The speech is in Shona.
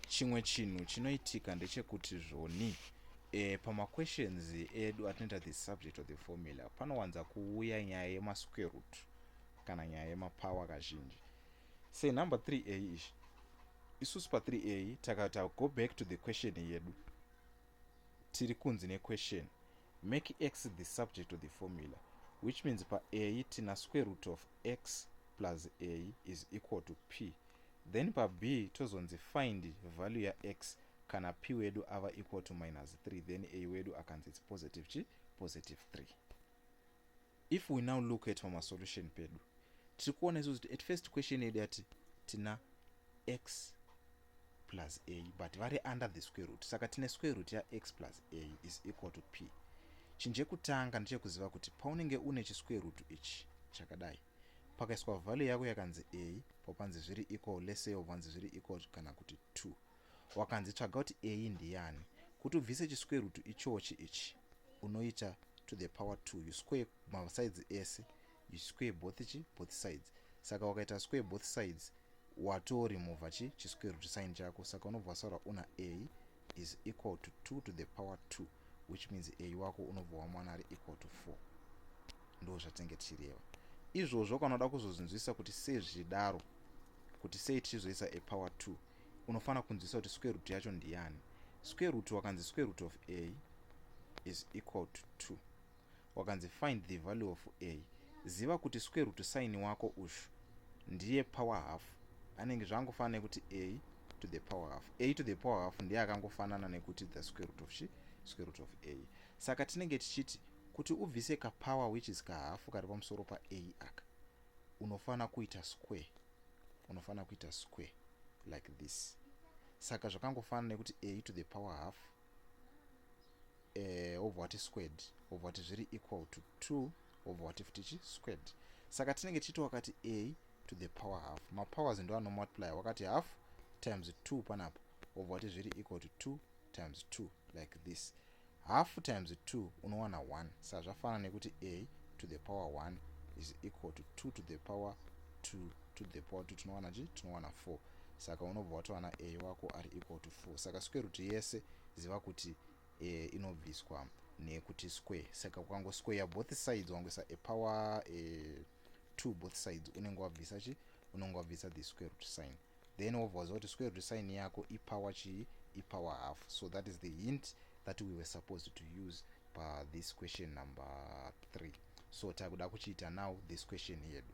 chimwe chinhu chinoitika ndechekuti zvoni e, pamaquestions edu atinoita the subject of the formula panowanza kuuya nyaya yemasquare root kana nyaya yemapower kazhinji say number 3 a izvi isusu pa3 a takata go back to the question yedu tiri kunzi nequestion make x the subject of the formula which means pa a tina square root of x plus a is equal to p then pa b tozonzi find value ya x kana p wedu ava equal to minus 3 then a wedu akanzi its positive chi positive 3 if we now look at pamasolution pedu tiri kuona isu kuti at first question yedu yati tina x plus a but vari under the square root saka tine square root ya x plus a is equal to p chinhu chekutanga ndechekuziva kuti paunenge une chisquare root ichi chakadai Pakaiswa value yako yakanzi a popanzi zviri equal let's say obvanzi zviri equal kana kuti 2 wakanzi tsvaga kuti a ndiyani kuti ubvise chiswerutu ichochi ichi unoita to the power 2 you square masides ese you square both chi both sides saka wakaita square both sides watorimovha chi chiswerutu sign chako saka unobva wasaura una a is equal to 2 to the power 2 which means a wako unobva wamwana ari equal to 4 ndo zvatinenge tichireva izvozvo kana uda kuzozvinzwisisa kuti sei zvichidaro kuti sei tichizoisa a power 2 unofanira kunzwisisa kuti square root yacho ndiyani square root wakanzi square root of a is equal to 2 wakanzi find the value of a ziva kuti square root sign wako ushu ndiye power half anenge zvaangofanana nekuti a to the power half a to the power half ndiye akangofanana nekuti the square root of chi square root of a saka tinenge tichiti kuti ubvise kapower which is kahafu kari pamusoro pa a aka unofanira kuita square unofanira kuita square like this saka zvakangofanana nekuti a to the power half eh, wobva wati squared wobva wati zviri equal to 2 wobva wati futi chi squared saka tinenge tichiti wakati a to the power half mapowers ndo anomultiply wakati half times 2 panapa wobva wati zviri equal to 2 times 2 like this half times 2 unowana 1 sa zvafanana nekuti a to the power 1 is equal to 2 to the power 2 to the power 2 tinowana chii tinowana 4 saka unobva watowana a wako ari equal to 4 saka square root yese ziva kuti e, inobviswa nekuti square saka ukango square both sides wangoisa a power e, 2 both sides unenge wabvisa chi unenge wabvisa the square root sign then wobva waziva kuti square root sign yako ipower chii ipower half so that is the hint that we were supposed to use pa this question number 3 so takuda kuchiita now this question yedu